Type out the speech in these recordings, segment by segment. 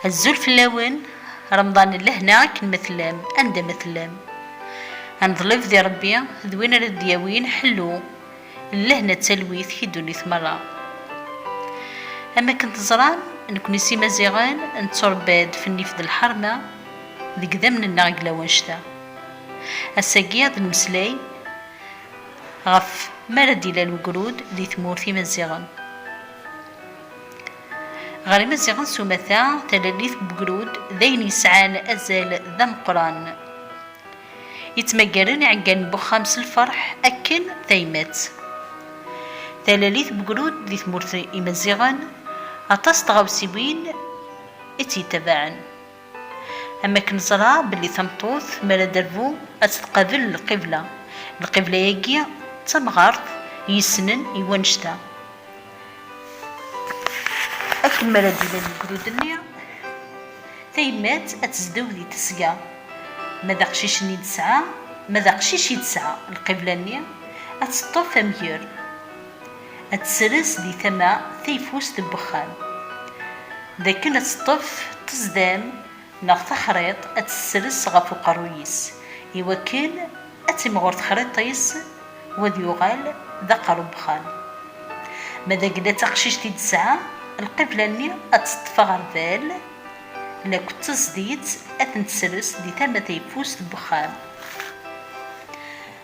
Azul fell-awen, Remḍan n lehna akken ma tellam, anda ma tellam. Aneḍleb di Rebbi d win ara d-yawin ḥellu n lehna d talwit i ddunit merra. Am akken teẓram, nekni s Imaziɣen netturebba-d f nnif d lḥerma deg idammen-nneɣ deg lawanect-a. Ass-agi ad d-nemmeslay ɣef mi ara d-ilal wegrud di tmurt Imaziɣen. Ɣer Imaziɣen s umata, talalit n ugrud d ayen yesɛan azal d ameqqran. Yettmaggaren iɛeggalen n uxxam s lferḥ akken tayemmat. Talalit n ugrud di tmurt n Imaziɣen, aṭas n tɣawsiwin i tt-yettabaɛen. Am akken neẓra belli tameṭṭut mi ara d-terbu ad tt-tqabel lqibla, lqibla-agi d tamɣart i yessnen i wannect-a. Akken mi ara d-ilal legdud-nni, tayemmat ad tezdew di tesga, ma d aqcic-nni i d-tesɛa, ma d aqcic i d-tesɛa, lqibla-nni ad teṭṭef amger. ad tesres di tama tayeffust n wexxam, d akken ad teṭṭef ṭṭezdam neɣ taxriḍt ad tt-tesres ɣef uqerruy-is, i wakken ad timɣur texriḍt-is u ad yuɣal d aqerru n wexxam. Ma d agla d taqcict i d-tesɛa, lqibla-nni ad teṭṭef aɣerbal lakk d taẓditt ad ten-tesres di tama tayeffust n wexxam.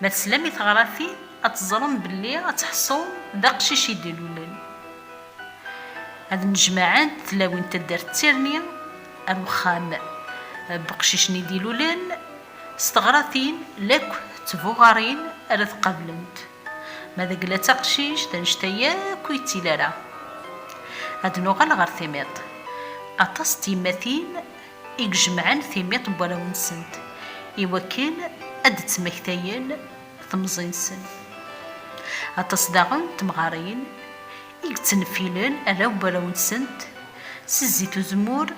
Ma teslam i teɣratin, ad teẓrem belli ad tḥṣum d aqcic i d-ilulen. Ad nnejmaɛent tlawin n taddart d tirni ar wexxam n weqcic-nni i d-ilulen, s teɣratin lakk d tbuɣarin ara t-qablent. Ma d agla d taqcict annect-a yakk ur yettili ara. Ad nuɣal ɣer timiḍt. Aṭas n tyemmatin. i ijemɛen timiṭ n warraw-nsent i wakken ad d-ttmektayen temẓi-nsen. Aṭas daɣen n temɣarin i yettneffilen arraw n warraw-nsent s zzit uzemmur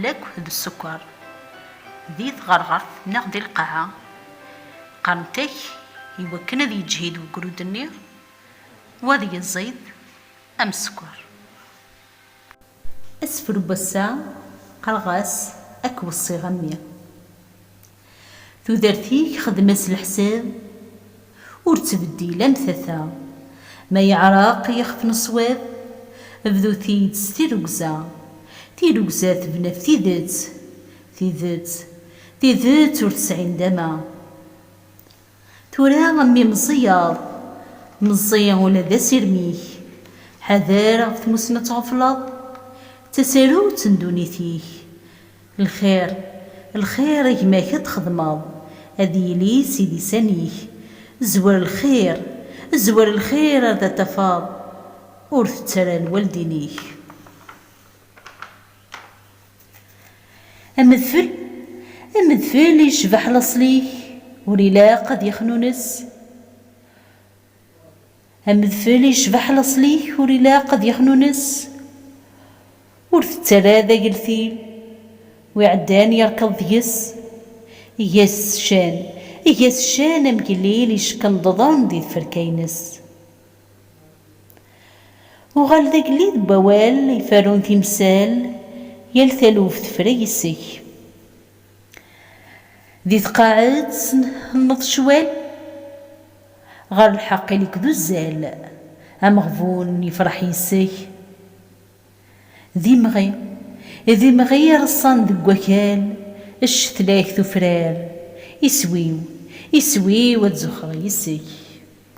lakk d ssukkeṛ, di tɣerɣert neɣ di lqaɛa, qqarent-ak i wakken ad yeǧhid wegrud-nni u ad yeẓid am ssukkeṛ. Asefru n wass-a qqareɣ-as Ad k-weṣṣiɣ a mmi Tudert-ik xdem-as leḥsab Ur ttbeddil am tata Ma yeɛreq yixef n ṣṣwab Bdu-t-id s tirrugza Tirrugza tebna ɣef tidet Tidet, tidet ur tesɛi ndama! Tura mi meẓẓiyeḍ, meẓẓi ula d asirem-ik, ḥader ɣef tmussni ad tɣefleḍ, d tasarut n ddunit-ik. Lxir, lxir i gma-k ad txedmeḍ, ad yili si lisan-ik. Zwer lxir, zwer lxir ar da tafeḍ, ur tett ara lwaldin-ik. Amedfel, Amedfel yecbeḥ laṣel-ik ur ilaq ad yexnunes Amedfel yecbeḥ laṣel-ik ur ilaq ad yexnunes Ur tettara d ageltil wi iɛeddan yerkeḍ deg-s Eg-as ccan, Eg-as ccan amgellil yeckenḍḍḍen di tferka-ines. Uɣal d agellid n wawal iferrun timsal, yal taluft tefra yes-k. Di tqaɛet tenneḍ ccwal, ɣer lḥeqq ili-k d uzzal, ameɣbun ifreḥ yes-k. D imɣi, d imɣi ireṣṣan deg wakal, ccetlak tufrar, iswi-w, iswi-w ad zuxxeɣ yes-k.